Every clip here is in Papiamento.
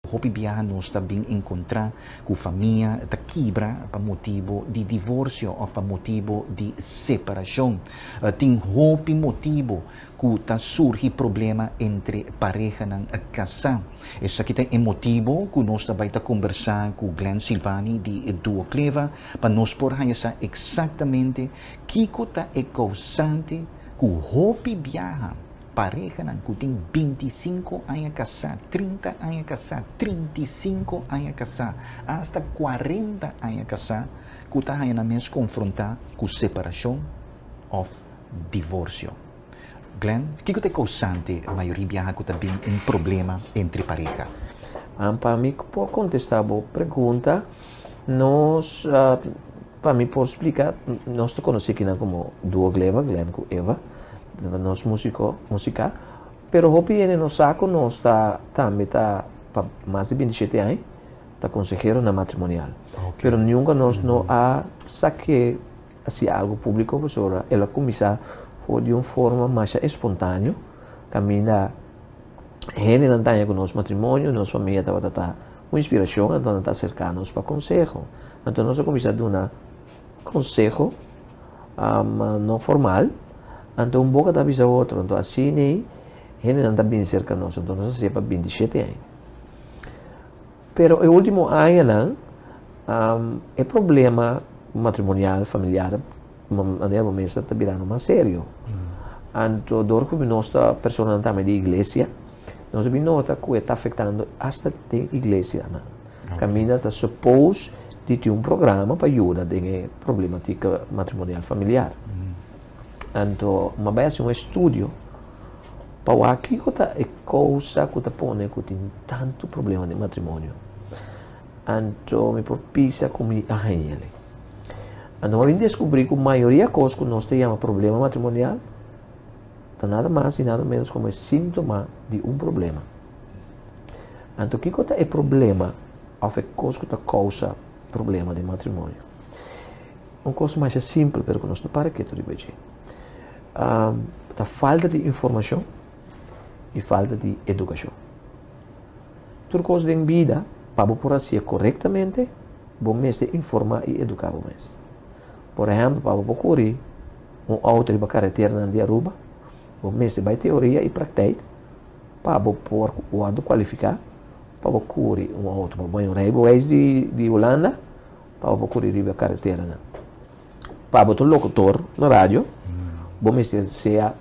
Hopi biaha nos ta bin encontra cu famia ta kibra pa motibo di divorcio of pa motibo di separacion. Tin hopi motibo ku ta surgi problema entre parehanan kasá. Esaki ta e motibu ku nos ta bai ta kombersá ku Glen Silvani di Duo Kleva pa nos por haña sa eksaktamente kiko ta e kousante ku hopi biaha parehanan ku tin binti i sinku aña kasá, trinta aña kasá, trinta i sinku aña kasá asta kuarenta aña kasá ku ta haña nan mes konfrontá ku separashon òf Divorsio. Glen, kiko ta e kousante mayoria biaha ku ta bin un problema entre pareha? An, pa mi ku por kontestá bo pregunta, nos, pa mi por spliká, nos ta konosé kinan komo dúo Gleva, Glen ku Eva, nos músiko, musiká, pero hopi hende no sa ku nos ta tambe ta pa mas di binti shete aña ta konsehero na matrimonial, pero nunka nos no a sa ke. haci algo público pasobra el a cuminsa for di un forma masha espontaneo caminda gentenan ta haña cu nos matrimonio nos familia tabata ta un inspiracion anto nan ta acerca nos pa conseho anto nos a cuminsa duna conseho no formal anto un boca ta bisa otro anto asina gentenan ta bini cerca nos anto nos a hacia pa binti shete aña. Pero e ultimo añanan e problema matrimonial, familiar, manera bo mester ta birando mas serio. Anto dor cu nos ta personanan tambe di iglesia, nos a bin nota cu e ta afectando hasta den iglesianan. Caminda ta suppose di tin un programa pa yuda den e problematica matrimonial, familiar. Anto mi a bai haci un estudio. Pa wak kiko ta e kousa ku ta pone ku tin tantu problema den matrimonio. Anto mi por pisa ku mi a hañel ei. Anto mi a bin deskubrí ku mayoria kos ku nos ta yama problema matrimonial ta nada mas i nada ménos komo e síntoma di un problema. Anto kiko ta e problema òf e kos ku ta kousa problema den matrimonio? Un kos masha simpel pero ku nos ta para ketu riba dje. Um, ta falta di informashon i falta di edukashon. Tur kos den bida, pa bo por hasié korektamente, bo mester informá i eduká bo mes. Por ehempel, pa bo por kuri un auto riba kareternan di Aruba, bo mester bai teoria i prakteik pa bo por wòrdu kualifiká pa bo kuri un auto. Pa bo bai un rijbewijs di, di Hulanda, pa bo por kuri riba kareternan. Pa bo ta un locutor na radio, bo mester sea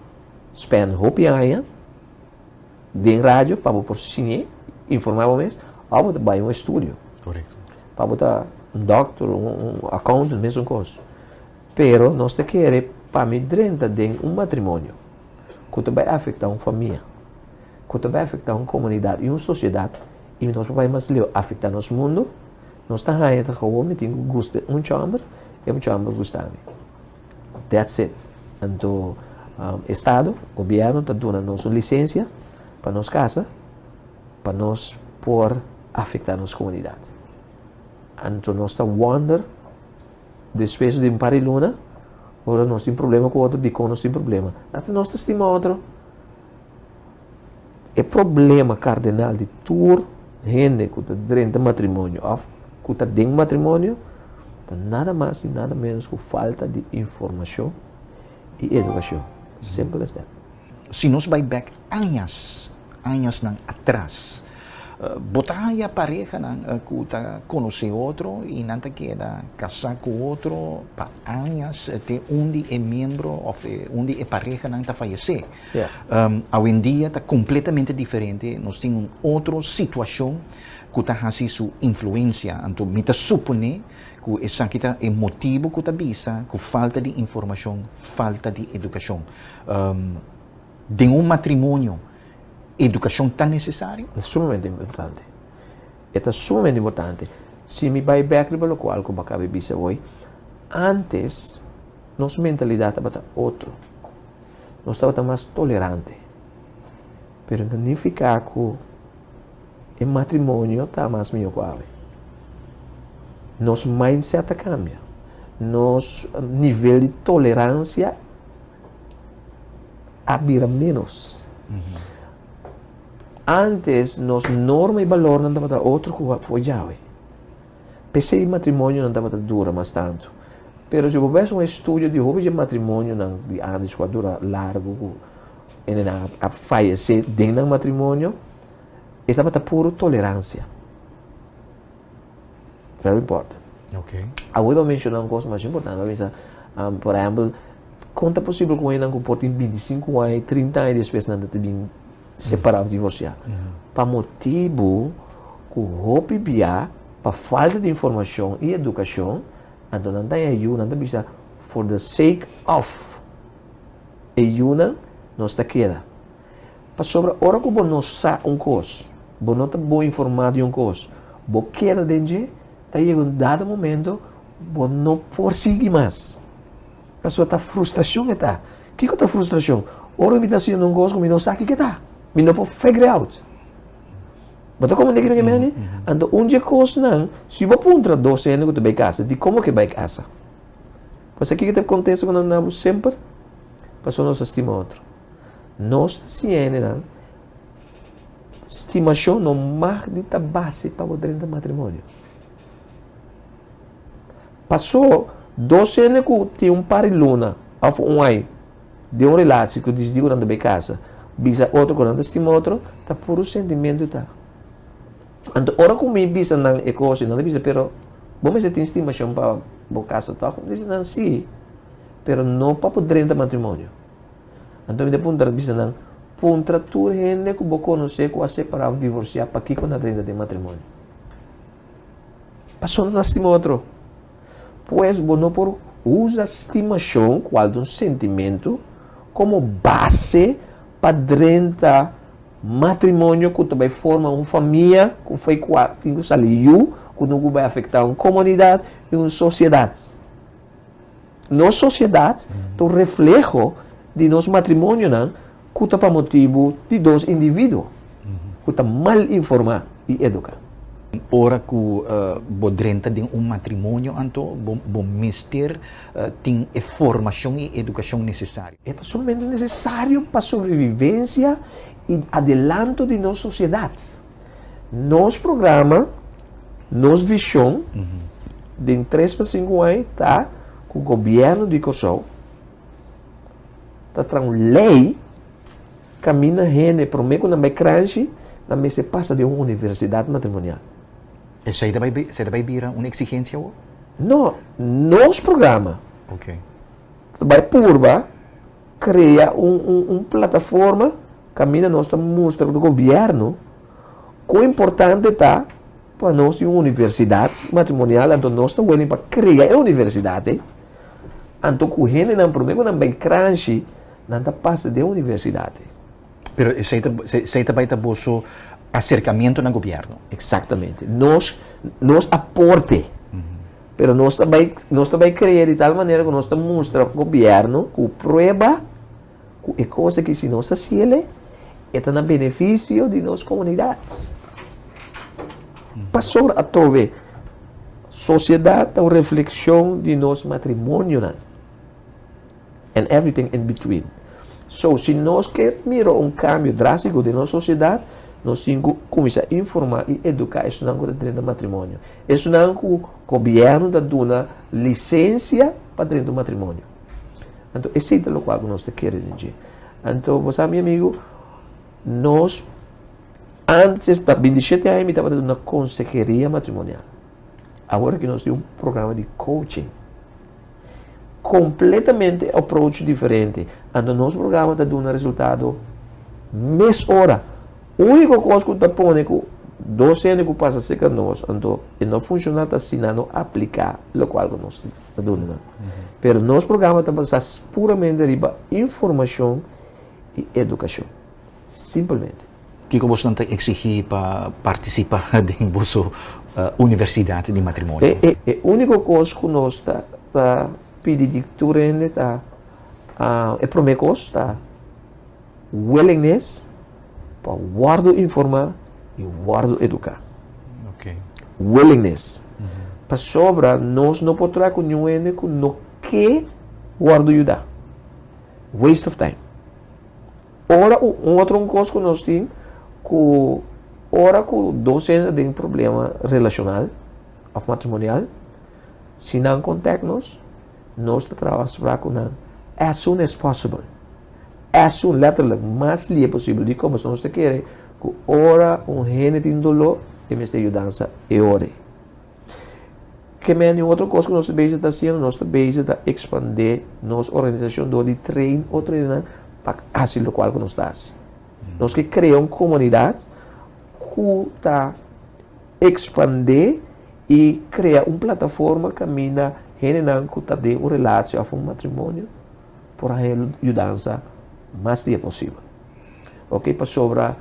spend hopi aña den radio pa bo por singe informa bo mes, of bo ta bai un estudio. Correcto. Pa bo ta un doctor, un, un accountant, mesun cos. Pero nos ta kere pa mi drenta den un matrimonio cu ta bai afecta un famia, cu ta bai afecta un comunidad y un sociedad y nos por bai mas leu afecta nos mundo, Nos ta haña ta gou mi tin ku gusta un chòmber i otro chòmber gusta mi. That's it. Anto estado, gobièrnu ta duna nos un lisensia pa nos kasa pa nos por afektá nos komunidat. Anto nos ta wònder despues di un par di luna ora nos tin problema ku otro dikon nos tin problema. Ata nos ta stima otro. E problema kardinal di tur hende ku ta drenta matrimonio òf ku ta den matrimonio ta nada mas i nada ménos ku falta di informashon i edukashon. Simpel es dat. Si nos bai bèk añas, añasnan atras. Bo ta haña parehanan ku ta konosé otro i nan ta keda kasá ku otro pa añas te un di e miembro òf un di e parehanan ta fayesé. Awendia ta kompletamente diferente, nos tin un otro situashon ku ta hasi su influensia. Anto mi ta suponé ku esaki ta e motibu ku ta bisa ku falta di informashon, falta di edukashon. Den un matrimonio, educacion ta necesario? Ta sumamente importante. E ta sumamente importante. Si mi bay bek riba locual cu bo a caba di bisa hoy, antes nos mentalidad tabata otro. Nos tabata mas tolerante. Pero no nifica cu e matrimonio ta mas miyor cu awe. Nos mindset ta cambia. Nos nivel di tolerancia. a bira menos. Antes nos norma y valor nan tabata otro cu fue Yahweh. Pese matrimonio nan tabata dura mas tanto. Pero si bo ves un estudio di hopi je matrimonio nan di antes cu a dura largo cu ene nan a fallece den nan matrimonio, e tabata puro tolerancia. Very important. Okay. Awor pa menciona un cos mas importante pa bisa, um, por ejemplo, con ta posible con enan cu por tin 25 aña, 30 aña despues nan ta bin separa of divorcia? Mm -hmm. Pa motibu cu hopi bia, pa falta di informacion y educacion, anto nan ta haña yu, nan ta bisa, for the sake of e yunan, nos ta keda. Pasobra ora ku bo no sa un kos, bo no ta bon informá di un kos, bo keda den dje, ta yega un dado momento bo no por sigui mas. Pasobra ta frustrashon e ta. Kiko ta frustrashon? Ora mi ta hasiendo un kos ku mi no sa ki ke ta, mi no por figure out. Bo ta komprendé kiko mi ta mindi? Anto un dje kosnan, si bo puntra dos hende ku ta bai kasa, dikomo ke bai kasa? Bo sa kiko ta kontesta ku nos na bo? Semper pasobra nos ta stima otro. Nos tiendenan stimashon no mag di ta base pa bo drenta matrimonio. Paso, dos hende ku tin un par di luna of un ai den un relashi ku disdi ku nan ta bay kasa, bisa otro ku nan ta stima otro, ta puru sentimentu ta. Anto ora ku mi bisa nan e kosa, nan ta bisa, pero bo mester tin stimashon pa bo kasa tòg? Mi ta bisa nan si, pero no pa bo drenta matrimonio. Anto mi ta puntra ta bisa nan, Puntra tur hende ku bo konosé ku a separá òf divorsiá pakiko nan renta den matrimonio. Pasobra nan ta stima otro. Pues, bo no por usa stimashon, ku altu un sentimentu, komo base pa drenta matrimonio ku ta bai forma un famia ku fai ku tin ku sali yu, ku tin ku bai afektá un komunidat i un sosiedat. Nos sosiedat ta un refleho di nos matrimonionan ku ta pa motibu di dos individuo ku ta mal informá i eduká. Ora ku bo drenta den un matrimonio anto bo mester tin e formashon i edukashon nesesario. E ta sumamente nesesario pa sobrevivensia i adelanto di nos sosiedat. Nos programa, nos vision den tres pa sinku ai ta ku gobièrnu di Kòrsou ta traha un lei kaminda hende promé ku nan bai kranshi nan mester pasa den un universidat matrimonial. Esei ta bai esei ta bai bira un eksigensia awor? No, nos programa ta bai purba. Krea un plataforma kaminda nos ta mustra di gobièrnu kon importante ta pa nos tin un universidat matrimonial. Anto nos ta wini pa krea e universidat ei. Anto ku hendenan promé ku nan bai Kranshi, nan ta pasa den universidat ei. Pero esei ta, esei ta bai ta boso aserkamentu na gobièrnu. Eksaktamente. Nos, nos aporte. Pero nos ta bai nos ta bai crea di tal manera cu nos ta mustra gobierno cu prueba cu e cos aki si nos haci el'e e ta na beneficio di nos comunidad. Pasobra atrobe sociedad ta un reflexion di nos matrimonionan. and everything in between. So, si nos ke mira un kambio drástiko den nos sosiedat, nos tin ku kuminsá informá i eduká esunnan ku ta drenta matrimonio. Esunnan ku gobièrnu ta duna lisensia pa drenta un matrimonio. Anto, esei ta lokual ku nos ta kere den dje. Anto, bo sa, mi amigu, nos, ántes, pa bintishete aña mi tabata duna konseheria matrimonial. Awor ki nos tin un programa di coaching. Completamente approach diferente. Anto nos programa ta duna resultado mes ora. Unico cos cu ta pone cu dos hende cu pasa seca nos, anto e no funciona ta si nan no aplica locual cu nos ta duna nan. Pero nos programa ta basa puramente riba informacion y educacion. Simpelmente. Kiko boso nan ta eksigí pa partisipá den boso universidat di matrimonio? E úniko kos ku nos ta ta pidi di tur hende ta, e promé kos ta willingness pa wòrdu informá i wòrdu eduká. Willingness. Pasobra nos no por traha ku niun hende ku no ke wòrdu yudá. Waste of time. Ora u otro cos cu nos tin cu ora cu dos hende den problema relacional of matrimonial si nan contact nos nos ta traba spra cu nan as soon as possible as soon letterlijk mas lie posible di como so nos ta kere cu ora un hende tin dolo e mester yudansa e ora e. Ke men di un otro kos ku nos ta bezi ta hasiendo? Nos ta bezi ta ekspandé nos organisashon dor di train otro hende pa hasi lokual ku nos ta hasi. Nos ke krea un komunidat ku ta ekspandé i krea un plataforma kaminda hendenan ku ta den un relashi òf un matrimonio por haña yudansa mas dia posibel. Oke, pasobra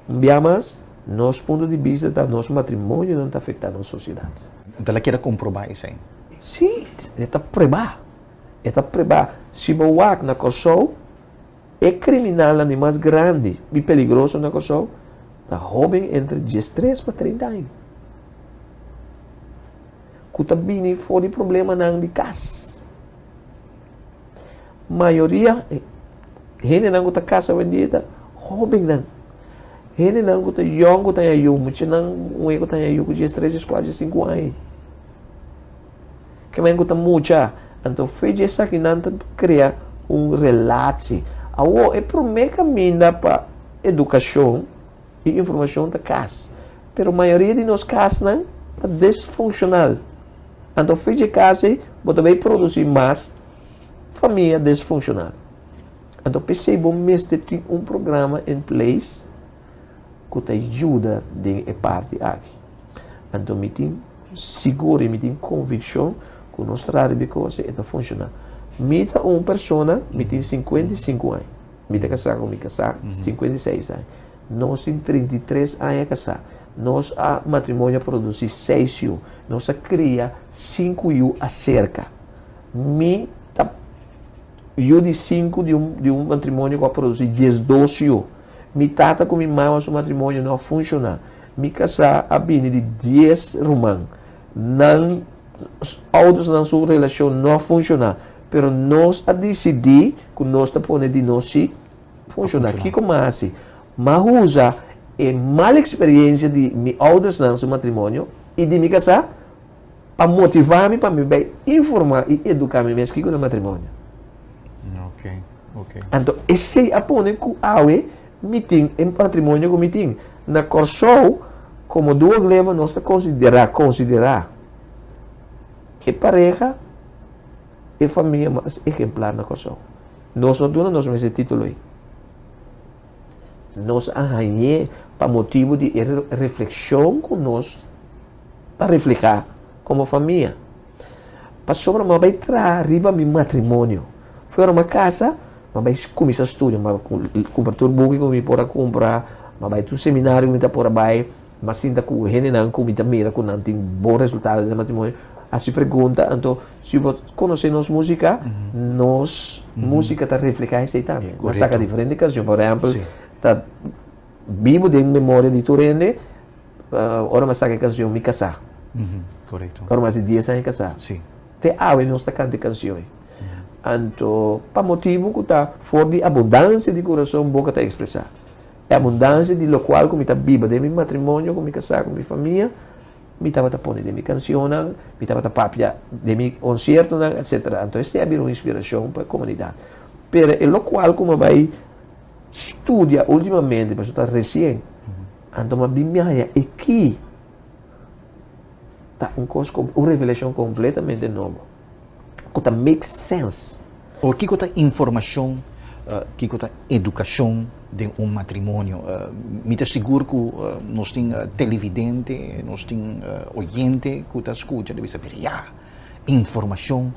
un bia mas nos punto di bista ta nos matrimonionan ta afektá nos sosiedat. Bo la keda komprobá esei? Sí, e ta prebá, e ta prebá. Si bo wak na Kòrsou, e kriminalnan di mas grandi i peligroso na Kòrsou ta hóben entre diestres pa treinta aña ku ta bini for di problemanan di kas. Mayoria hendenan ku ta kasa wendia ta hóbennan. Hendenan ku ta yòn ku ta haña yu, muchanan un e ku ta haña yu ku djes, tres djes, kuat djes, sinku aña. Kiman ku ta mucha. Anto fe di esakinan ta krea un relatsi. Awor, e promé kaminda pa edukashon. E informashon ta kas, pero mayoria di nos kasnan ta disfunkshonal. Anto fich e kas ei, bo ta bay produsí mas famia disfunkshonal. Anto p'esei bo mester tin un programa in place ku ta yuda den e parti aki. Anto mi tin sigur i mi tin konvikshon ku nos trata riba e kos ei, e ta funshona. Mi ta un persona, mi tin sinkuenta i sinku aña. Mi ta kasá ku mi kasá sinkuenta i seis aña. Nos tin trinta i tres aña kasá. Nos a matrimonio a produsí seis yu. Nos a kria sinku yu aserka. Mi ta yu di sinku di un di un matrimonio ku a produsí diesdos yu. Mi tata ku mi mama su matrimonio no a funshoná. Mi kasá a bini di dies ruman. Nan oudersnan su relashon no a funshoná, pero nos a disidí ku nos ta pone di nos si Funciona. Kico mas haci? M'a usa e mal experiencia di mi oudersnan su matrimonio y di mi casá pa motivá mi pa mi bai informá y educá mi mes kico ta matrimonio. Anto esei a pone cu awe mi tin e matrimonio cu mi tin. Na Corsou, como duo gleva, nos ta considera, considera, e pareha. E famia mas ehemplar na Kòrsou. Nos no duna nos mes e titulo ei. Nos a hañ'é pa motibu di e reflekshon ku nos ta reflehá komo famia. Pasobra m'a bai traha riba mi matrimonio. Fo'i ora m'a kasa, m'a bai kuminsá studia. M'a kumpra tur buki ku mi por a kumpra, m'a bai tur seminario ku mi ta por a bai. Mas sinta ku hendenan ku mi ta mira ku nan tin bon resultado den e matrimonio hasi pregunta, Anto, si bo konosé nos músika, nos músika ta reflehá esei tambe. Nan saka diferente kanshon, por ehèmpel, ta bibu den memoria di tur hende ora mi a saka e kanshon Mi Kasá, ora mi a hasi dies aña kasá. Te awe nos ta kanta e kanshon ei. Anto, pa motibu ku ta for di abundansia di kurason boka ta ekspresá. E abundansia di lokual ku mi ta biba den mi matrimonio ku mi kasá ku mi famia, mi tabata pone den mi kansionnan, mi tabata papia den mi konsiertonan, etsetera. Anto esei a bira un inspirashon pa e komunidat. Pero e lokual ku mi a bai studia ultimamente, pasobra ta resien, anto mi a bin mi a haña aki, ta un kos, un revelashon kompletamente nobo. ku ta make sense. Or kiko ta informashon, kiko ta edukashon den un matrimonio? Mi ta sigur ku nos tin televidente, nos tin oyente ku ta skucha ta bisa, pero ya, informashon,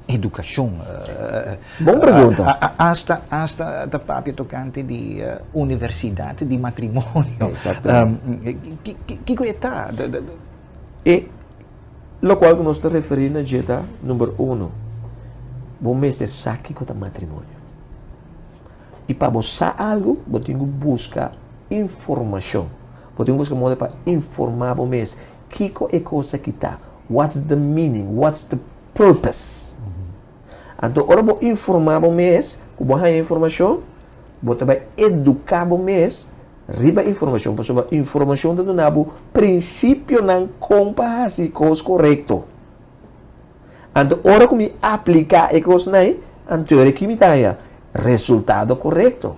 edukashon. Bon pregunta. Asta, asta ta papia tokante di universidat di matrimonio. Exactamente. Kiko e ta? E. Lokual ku nos ta referí na dje ta, number uno, bo mester sa kiko ta matrimonio. I pa bo sa algu, bo tin ku buska informashon. Bo tin ku buska moda pa informá bo mes kiko e kos aki ta, what's the meaning, what's the purpose. Anto ora bo informá bo mes ku bo haña informashon, bo ta bai eduká bo mes riba informashon pasobra informashon ta duna bo prinsipionan kon pa hasi kos korekto. Anto ora ku mi apliká e kosnan, anto ora ki mi ta haña resultado korekto.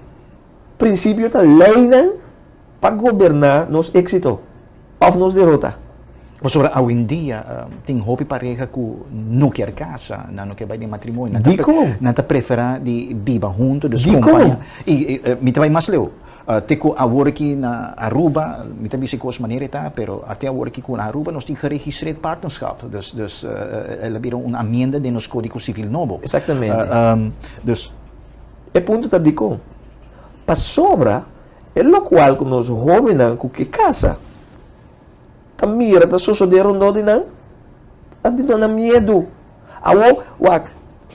Prinsipio ta leinan Pa goberná nos éksito òf nos derota. Pasobra awendia tin hopi pareha ku no kier kasa, nan no kier bai den matrimonio. Dikon? Nan ta preferá di biba huntu, dus kompaña. Dikon? I mi ta bai mas leu. Te ku awor aki na Aruba, mi ta bisa e kos manera e ta, pero te awor aki ku na Aruba nos tin geregistreerd partnerschap. Dus, dus, el a bira un amienda den nos kódigo sivil nobo. Eksaktamente. Dus. E punto ta dikon? Pasobra. E lokual ku nos hóbennan ku ke kasa ta mira ta sosodé rondó di nan, ta duna nan miedu. Awor, wak,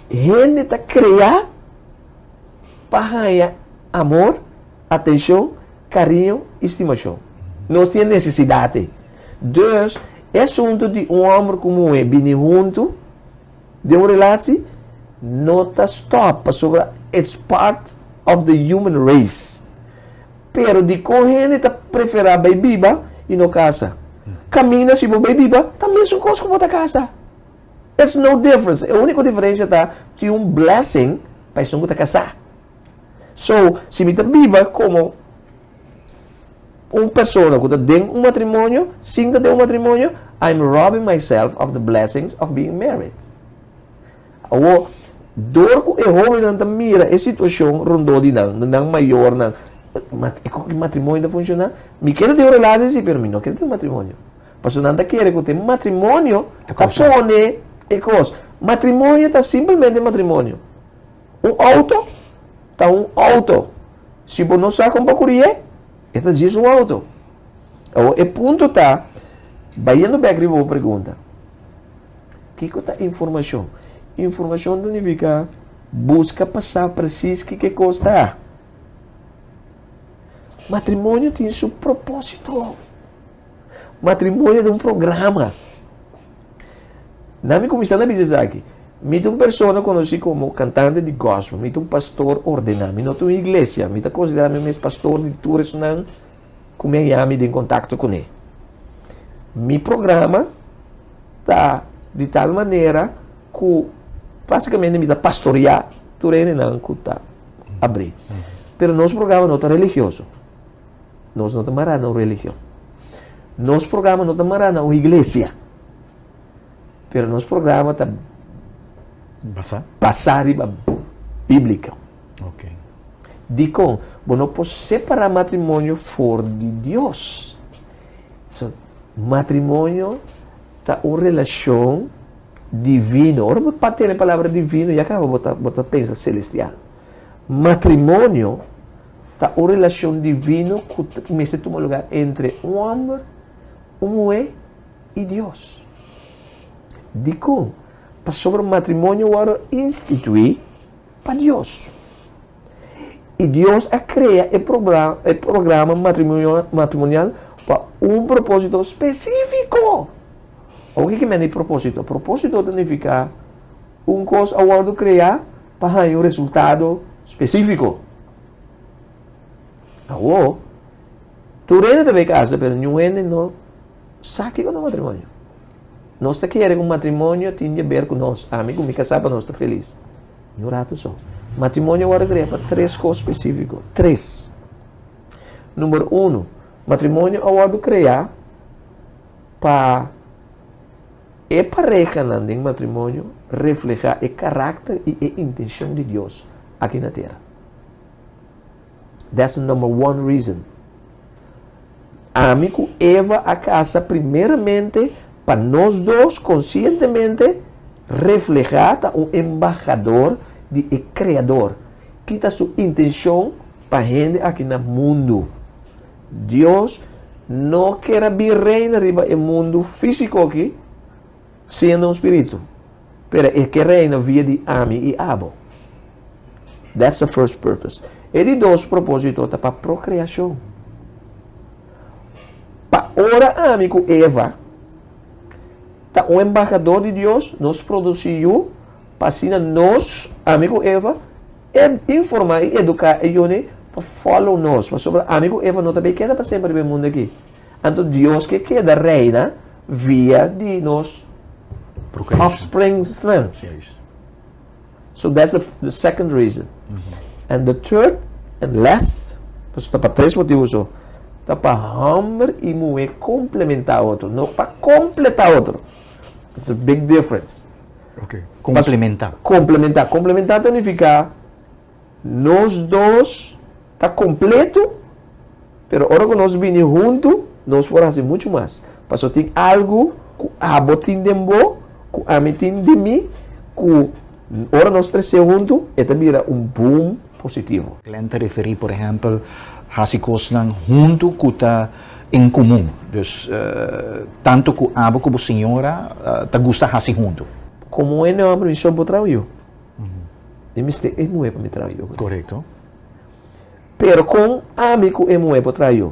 hende ta kreá pa haña amor, atenshon, kariño i stimashon. Nos tin e nesesidat ei. Dus, e asuntu di un hòmber ku muhé bini huntu, den un relatsi no ta stòp pasobra it's part of the human race. Pero dikon hende ta preferá bai biba i no kasa? Kaminda si bo bai biba ta mesun kos ku bo ta kasa. It's no difference. E úniko diferensha ta tin un blessing pa esun ku ta kasá. So, si mi ta biba komo. Un persona ku ta den un matrimonio, sin ta den un matrimonio, I am robbing myself of the blessings of being married. Awo, dor ku e hóbennan ta mira e situashon rondó di nan, di nan mayornan, E matrimonio ta funshoná? Mi ke ta den un relashi sí, pero mi no ke ta den un matrimonio. Pasobra nan ta kere ku ta e matrimonio ta pone e kos. Matrimonio ta simplemente matrimonio. Un outo ta un outo. Si bo no sa kon pa kurié, e ta djis un outo. Awo e punto ta, bayendo bek riba bo pregunta, kiko ta informashon? Informashon ta nifiká buska pa sa presis ki ke kos ta. Matrimonio tin su propósito. Matrimonio ta un programa. Na mi kuminsá ta bisa esaki. Mi ta un persona konosí komo kantante di gòspel. Mi ta un pastor ordená. Mi no ta un iglesia. Mi ta konsiderá mi mes pastor di tur esnan ku mi a yaa mi den kontakto kuné. Mi programa ta di tal manera ku basikamente mi ta pastoreá tur hendenan ku ta abrí. Pero nos programa no ta religioso. Nos no ta mará na un religion. Nos programa no ta mará na un iglesia. Pero nos programa ta Basá? basá riba bíblico. Ok. Dikon? Bo no por separá matrimonio for di Dios. So, matrimonio ta un relashon divino. Ora bo pa tene palabra divino, ya kaba bo ta, bo ta pensa selestial. Matrimonio Ta un relacion divino cu mester tuma lugar entre un homber, un muhe y Dios. Dicon? Pasobra matrimonio worde institui pa Dios. Y Dios a crea e programa matrimonial pa un proposito specifico. Oca ki manda e proposito? Proposito ta nifica Un kos a wòrdu kreá pa haña un resultado spesífiko. Awó, tur hende ta bai kasa, pero niun hende no sa kiko ta un matrimonio. Nos ta kere ku matrimonio tin di ber ku nos, ami ku mi kasá pa nos ta felis. Niun ratu so. Matrimonio a wòrdu kreá pa tres kos spesífiko. Tres. Number unu, matrimonio a wòrdu kreá pa E parehanan den matrimonio reflehá e karakter i e intenshon di Dios aki na tera. That's the number one reason. Ami ku Eva a kasa primeramente pa nos dos konsientemente reflehá ta un embahador di e Kreador, ki ta su intenshon pa hende aki na mundu. Dios no ker a bin reina riba e mundu físiko akí siendo un spiritu, pero e ke reina via di ami i abo. That's the first purpose. E di dos propósito ta pa prokreashon. Pa ora ami ku Eva ta un embahadó di Dios, nos produsí yu pa asina nos, ami ku Eva, E informa i educa e yone pa follow nos, pasobra ami cu Eva no ta bay keda pa semper riba e mundo aki. Anto Dios ke keda reina via di nos offspringsnan. So that's the the second reason. And the third and last, paso ta pa tres motibu so, ta pa homber i muhe complementa otro, no pa completa otro. There's a big difference. Okay. Complementa. Complementa. Complementa ta nifica nos dos ta completo pero ora cu nos bini hunto nos por haci mucho mas. Paso tin algo cu abo tin den bo cu ami tin den mi cu ora nos trece hunto e ta bira un boom. positivo. Glenn ta referí, por ehèmpel, hasi kosnan huntu ku ta en komun. Dus, tantu ku abo ku bo señora ta gusta hasi huntu. Komo e nòmber mi shon por traha yu, mi mester e muhé pa mi traha yu. Korekto. Pero kon ami ku e muhé por traha yu?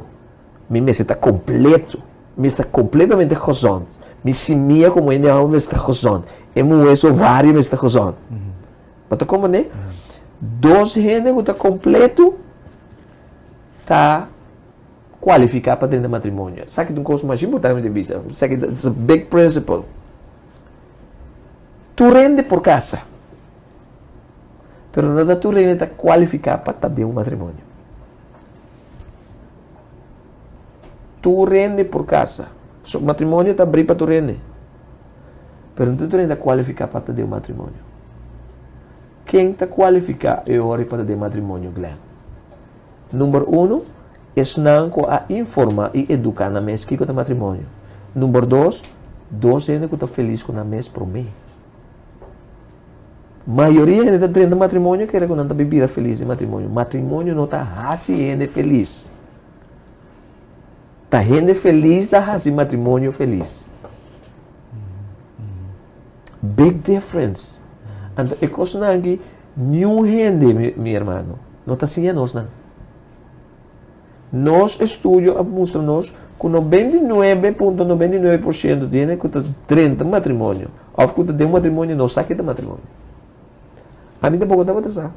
Mi mester ta kompleto. Mi mester ta kompletamente gozònt. Mi simia komo e nòmber mester ta gozònt. E muhé su ovario mester ta gozònt. Bo ta komprendé? Dos hende ku ta kompletu ta kualifiká pa drenta matrimonio. Esaki ta un kos mas importante mi ta bisa. Esaki ta un big prinsipel. Tur hende por kasa, pero no ta tur hende ta kualifiká pa ta den un matrimonio. Tur hende por kasa. So, matrimonio ta abrí pa tur hende. Pero no tur hende ta kualifiká pa ta den un matrimonio. Ken ta kualifiká e ora pa ta den matrimonio, Glen? Number uno, esnan ku a informá i eduká nan mes kiko ta matrimonio. Number dos, dos hende ku ta felis ku nan mes promé. Mayoria hende ta drenta matrimonio kere ku nan ta bin bira felis den matrimonio. Matrimonio no ta hasi hende felis. Ta hende felis ta hasi matrimonio felis. Big difference. Anto e kosnan aki niun hende, mi hermano, no ta siña nos nan. Nos estudio a mustra nos ku nobenta i nuebe punto nobenta i nuebe por siento di hende ku ta drenta matrimonio òf ku ta den un matrimonio no sa ke ta matrimonio. Ami tampoco tabata sa.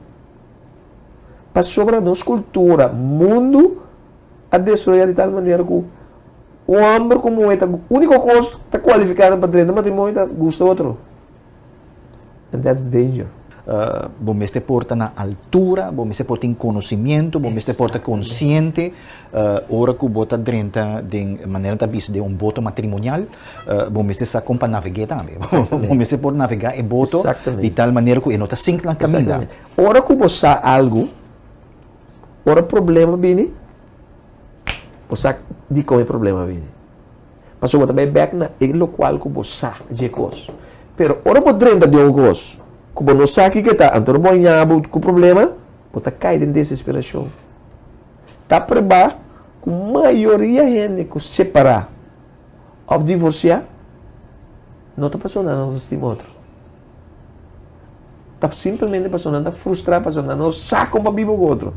Pasobra nos kultura, mundu. a destroyá di tal manera ku un hòmber ku muhé ta úniko kos ta kualifiká nan pa drenta matrimonio ta gusta otro. And that's danger. bo mester por ta na altura, bo mester por tin konosimiento, bo mester por ta konsiente ora ku bo ta drenta den manera nan ta bisa den un boto matrimonial, bo mester sa kon pa naveg'é tambe. Bo mester por navegá e boto di tal manera ku e no ta sink na kaminda. Ora ku bo sa algu. Ora problema bini, bo sa dikon e problema bini. Pasobra bo ta bai bèk na e lokual ku bo sa dje kos. Pero ora bo drenta den un kos ku bo no sa kiko e ta, anto ora bo a ña bo ku problema, bo ta kai den desesperashon. Ta prebá ku mayoria hende ku separá òf divorsiá no ta pasá un lana nos stima otro. Ta simplemente pasobra nan ta frustrá, pasobra nan no sa kon pa biba ku otro.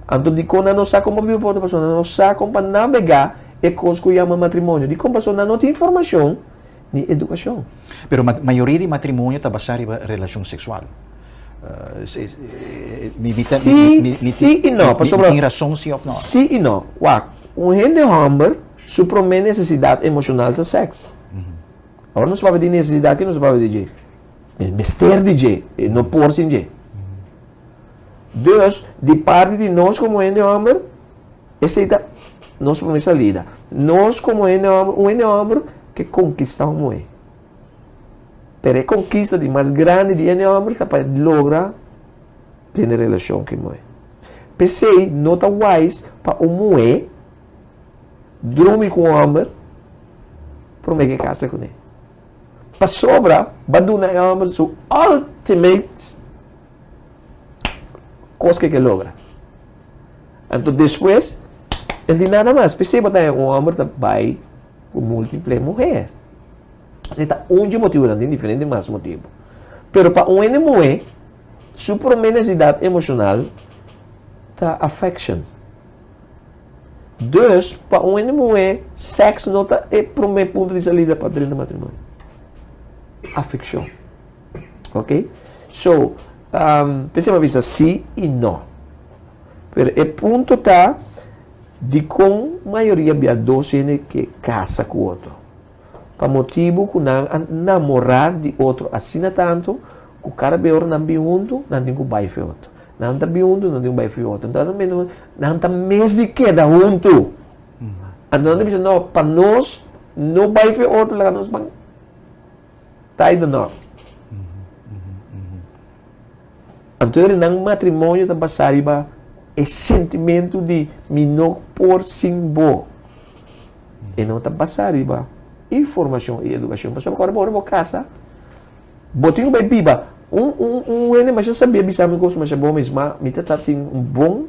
Anto dikon nan no sa kon pa biba pa otro? Pasobra nan no sa kon pa nabegá e kos ku yama matrimonio. Dikon? Pasobra nan no tin informashon ni edukashon. Pero mayoria di matrimonio ta basá riba relashon seksual. Mi tin rason sí òf no? Sí i no. Wak, un hende hòmber su promé nesesidat emoshonal ta sèks. Ora nos papia di nesesidat, ke nos ta papia di dje? E mester di dje, e no por sin dje. Dus, di parti di nos komo hende hòmber, esei ta nos promé salida. Nos komo hende hòmber, un hende hòmber ke konkistá un muhé. Pero e konkista di mas grandi di hende hòmber ta pa e logra tene relashon ku e muhé. P'esei no ta wise pa un muhé. Drumi ku un hòmber, promé ke kasa kuné. Pasobra b'a duna e hòmber su ultimate kos ke ke logra. Anto despues e di nada mas. P'esei bo ta haña un hòmber ta bai ku múltiple muher. Esei ta un dje motibu, nan tin diferente mas motibu. Pero pa un hende muhé, su promé nesesidat emoshonal ta affection. Dus, pa un hende muhé, sèks no ta e promé punto di salida pa dren di matrimonio. Afekshon. Ok? So, ta esei bo a bisa sí i no. Pero e punto ta dikon mayoria biadó si hende ke kasa ku otro. pa motibu ku nan a namorá di otro asina tantu ku kada bes ora nan bin huntu, nan tin ku bai feot. Nan ta bin huntu, nan tin ku bai feot. Anto nan mester, nan ta mes di keda huntu. Anto nan ta bisa, no, pa nos no bai feot, laga nos ban tai na nor. Anto e renan matrimonio ta basá riba e sentimentu di mi no por sin bo. E no ta basa riba informashon i edukashon. Pasobra ku ora bo wor bo kasa, bo tin ku bai biba. Un, un, un wende masha sabia a bisa mi un kos masha bon, a mes, ma mi ta tratin un bon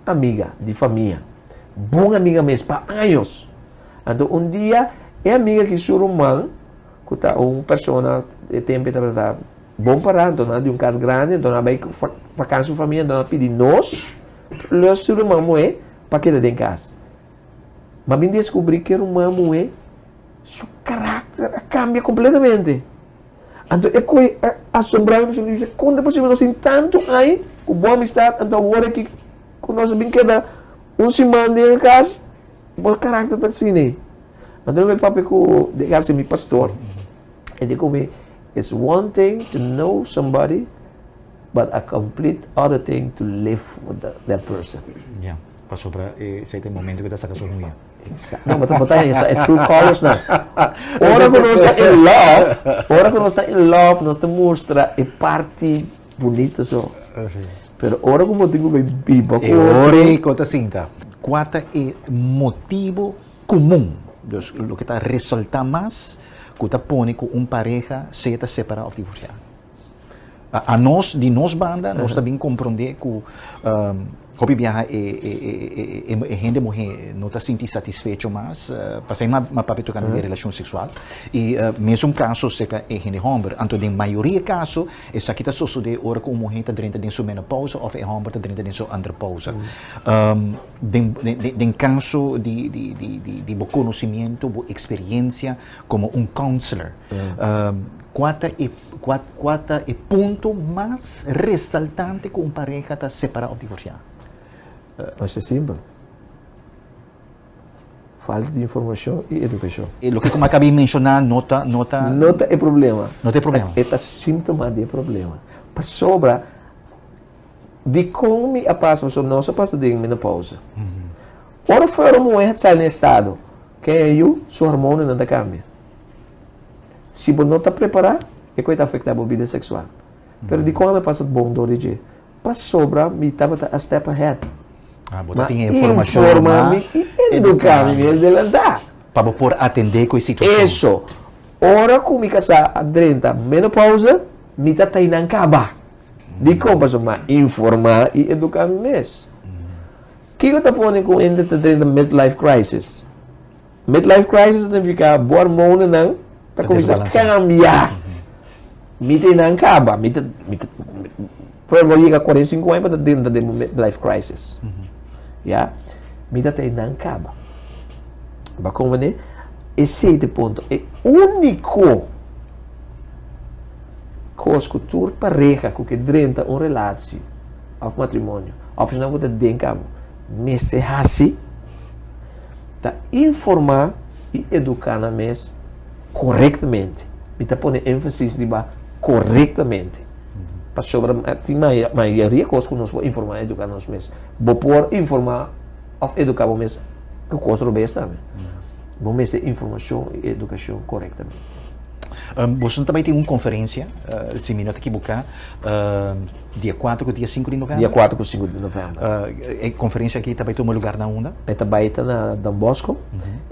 amiga di famia. Bon amiga mes pa años. Anto un dia e amiga ki su ruman, ku ta un persona e tempu e tabata bon pa ra, anto nan a di un kas grandi, anto nan a bai vakansia ku su famia, anto nan a pidi nos, lo su ruman moe pa keda den kas. Ma mi descubri cu e ruman muhe, su caracter a cambia completamente. Anto e coe a asombra mi, mi bisa, con ta posible nos tin tanto aña cu bon amistad, anto awor aki cu nos a bin keda un siman den e cas, bo caracter ta asina. Anto mi papia cu den cas mi pastor, e di cu mi, It's one thing to know somebody, but a complete other thing to live with that person. Pasobra esei ta e momento ku e ta saka su huña. Exacto. No, bo ta hesa e true colors nan. Ora ku nos ta in love, ora ku nos ta in love nos ta mustra e parti bunita so. Pero ora ku bo tin ku bai biba ku otro. E ora ei ku ta sinta. Kua ta e motibu komun, dus loke ta resalta mas, ku ta pone ku un pareha sea ta separá òf divorsiá? A nos, di nos banda, nos ta bin komprondé ku hopi biaha e hende muhé no ta sinti satisfecho mas pa esei mas papia tokante di relashon seksual. I mesun kaso serka e hende hòmber. Anto den mayoria kaso esaki ta sosodé ora ku un muhé ta drenta den su menopousa òf e hòmber ta drenta den su andropousa. Den kaso di bo konosimiento, bo eksperiensia komo un kounsler. Kua ta e kua kua ta e punto mas resaltante ku un pareha ta separá òf divorsiá? Mas e simpel. Falta di informashon i edukashon. E loke ku mi a kab'é menshoná no ta no ta No ta e problema. No ta e problema. E ta símtoma di e problema. Pasobra dikon mi a pasa, pasobra nos a pasa den menopausa. Ora fuera un muhé a sali na e estado, ken a yu? Su hormonanan ta kambia. Si bo no ta prepará, e koe ta afektá bo bida seksual. Pero dikon ami a pasa bon dor di dje? Pasobra mi tabata a step ahead. Bo ta tin e informashon lo mas. Mi informá mi i eduká mi mes delantá. Pa bo por atendé ku e situashon. Eso. Ora ku mi kasá a drenta menopauze, mi ta ta einan kaba. Dikon? Pasobra mi a informá i eduká mi mes. Kiko ta pone ku un hende ta drenta midlife crisis? Midlife crisis ta nifiká bo armonanan ta kuminsá kambia. Mi ta e nan kaba. Mi ta, mi ta, por ejemplo, mi yega kuarenta i sinku aña pa ta dentra den mi midlife crisis. Ya. Mi ta ta e nan kaba. Bo kon manera? Esei ta e punto. E úniko kos ku tur pareha ku ke drenta un relashi òf matrimonio, òf esnan ku ta den kaba, mester hasi, ta informá i eduká nan mes korektamente. Mi ta pone énfasis riba korektamente. Pasobra tin mayoria kos ku nos por informá i eduká nos mes. Bo por informá òf eduká bo mes ku kos robes tambe. Bo mester informashon i edukashon korektamente. Boso no ta bai tin un konferensia, si mi no ta kibuká. Dia kuater ku dia sinku di novèmber? Dia kuater ku sinku di novèmber. E konferensia aki ta bai tuma lugar na unda? E ta bai ta na Don Bosco.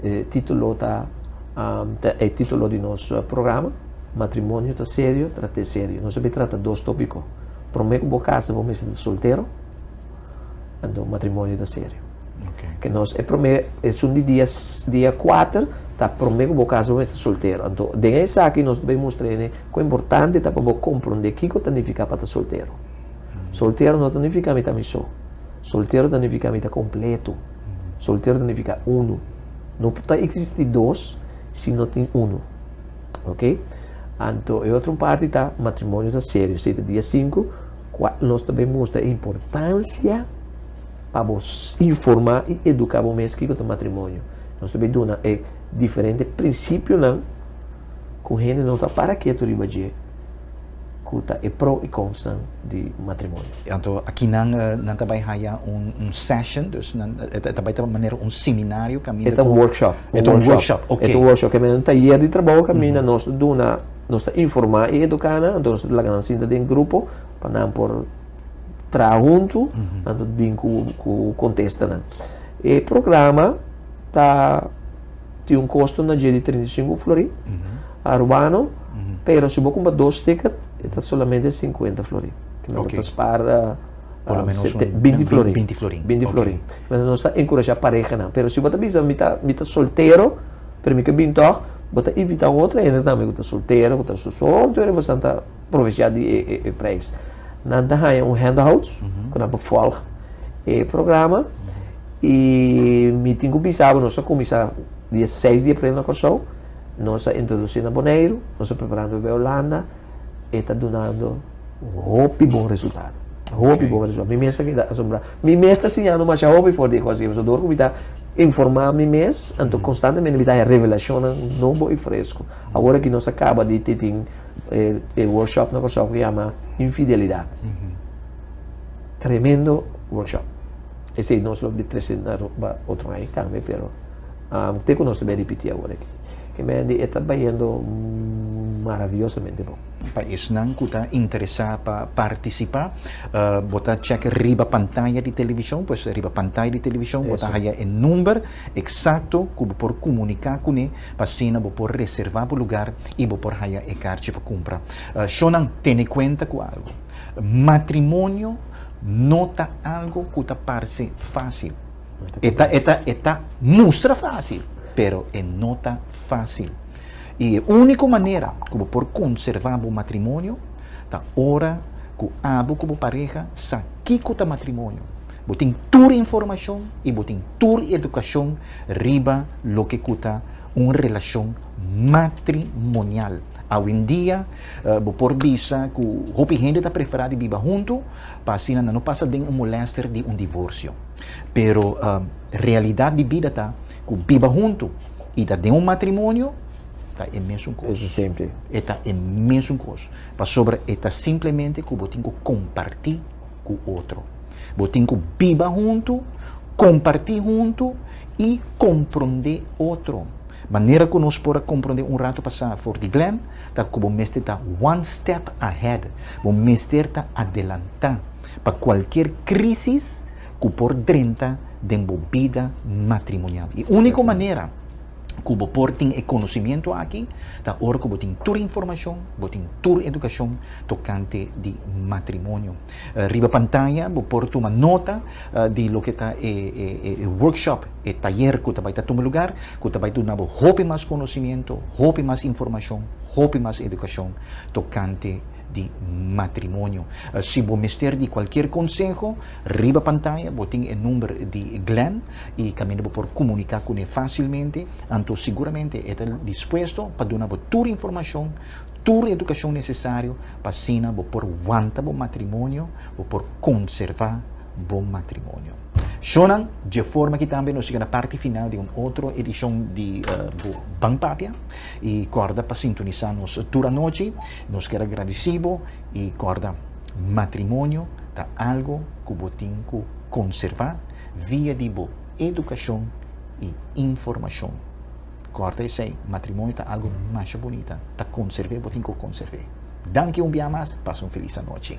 E titulo ta, ta e titulo di nos programa, Matrimonio ta serio, trat'é serio. Nos a bai trata dos tópiko. Promé ku bo kasa bo mester ta soltero. Anto matrimonio ta serio. Okay. Ke nos e prome e sun di dia dia 4 ta prome ku bo kas bo mester soltero. Anto den esaki nos be mustra ene ku importante ta pa bo kompronde kiko ta nifiká pa ta soltero. Mm. Soltero no ta nifiká mi ta mi so. Soltero ta nifiká mi ta kompleto. Mm. Soltero ta nifiká unu. No ta eksistí dos si no tin unu. Ok? Anto e otro parti ta matrimonio ta serio. Si ta dia 5 Kua nos ta bin mustra e importansia pa bo informá i eduká bo mes kiko ta matrimonio. Nos ta bin duna e diferente prinsipionan ku hende no ta para ketu riba dje, ku ta e pro i konsnan di matrimonio. Anto aki nan nan ta bai haya un un session, dus nan e ta bai ta manera un seminario kaminda ku. E ta un workshop. E ta un workshop, oke. E ta un workshop kaminda un tayer di trabou kaminda nos ta duna. Nos ta informá i eduká nan, anto nos ta laga nan sinta den grupo pa nan por traha huntu, anto bin ku ku kontestanan. E programa ta tin un kosto na dje di trinta i sinku florin aruano, pero si bo kumpra dos tiket e ta solamente sinkuenta florin. Kimin nan bo ta spara por lo menos un binti florin, binti florin, binti florin. Nos ta enkurashá parehanan, pero si bo ta bisa mi ta mi ta soltero, pero mi ke bin tòg, bo ta invitá otro hende tambe ku ta soltero, ku ta su sol, tur e moesnan ta provechá di e e e preis. Nan ta haña un handouts ku nan por vòlg e programa i mi tin ku bisa bo nos a kuminsá dia seis di april na Kòrsou, nos a introdusí na Boneiru, nos a prepará nan bebé Ulanda, e ta dunando hopi bon resultado. Hopi bon resultado. Mi mes ta keda asombrado. Mi mes ta siñando masha hopi for di e kos. So dor ku mi ta informa mi mes, anto konstantemente mi ta haña revelacionnan nobo i fresku. Awor aki nos ta kaba di tin e workshop na Kòrsou ku yama Infidelidat. Tremendo workshop. Esei nos lo presenta otro aña tambe pero ke ku nos ta bai ripití awor aki? E Mandy e ta bayendo maravillosamente bon. Pa esnan cu ta interesa pa participa, bo ta check riba pantaya di television, pues riba pantaya di television bo ta haya e number exacto cu bo por comunica cune pa asina bo por reserva bo lugar y bo por haya e carchi pa cumpra. Shonan tene cuenta cu algo, matrimonio no ta algo cu ta parce facil. E ta, e ta, e ta mustra fásil, pero e no ta fásil. I e úniko manera ku bo por konservá bo matrimonio ta ora ku abo ku bo pareha sa kiko ta matrimonio, bo tin tur informashon i bo tin tur edukashon riba loke ku ta un relashon matrimonial. Awendia bo por bisa ku hopi hende ta preferá di biba huntu pa asina nan no pasa den un molèster di un divorsio. Pero realidat di bida ta ku biba huntu i ta den un matrimonio ta e mesun kos. E ta e mesun kos. Pasobra e ta simplemente ku bo tin ku kompartí ku otro. Bo tin ku biba huntu, kompartí huntu i komprondé otro. Manera ku nos por a komprondé un ratu pasá for di Glenn ta ku bo mester ta one step ahead. Bo mester ta adelantá. pa kualkier krísis ku por drenta den bo bida matrimonial. E úniko manera ku bo por tin e konosimiento aki ta ora ku bo tin tur informashon, bo tin tur edukashon tokante di matrimonio. Riba pantaya bo por tuma nota di loke ta e workshop, e tayer ku ta bai ta tuma lugar, ku ta bai duna bo hopi mas konosimiento, hopi mas informashon, hopi mas edukashon tokante. di matrimonio. Si bo mester di cualkier conseho, riba pantaya bo tin e number di Glenn y caminda bo por comunica cune facilmente, anto seguramente e ta dispuesto pa duna bo tur informacion, tur educacion necesario pa asina bo por wanta bo matrimonio, bo por conserva bo matrimonio. Shonan, dje forma aki tambe nos yega na parti final di un otro edicion di bo Ban Papia y corda pa sintonisa nos tur anochi. Nos kier a gradisí bo i kòrda, matrimonio ta algu ku bo tin ku konservá via di bo edukashon i informashon. Kòrda esei, matrimonio ta algu masha bunita, ta konserv'é, bo tin ku konserv'é. Danki un bia mas, pasa un felis anochi.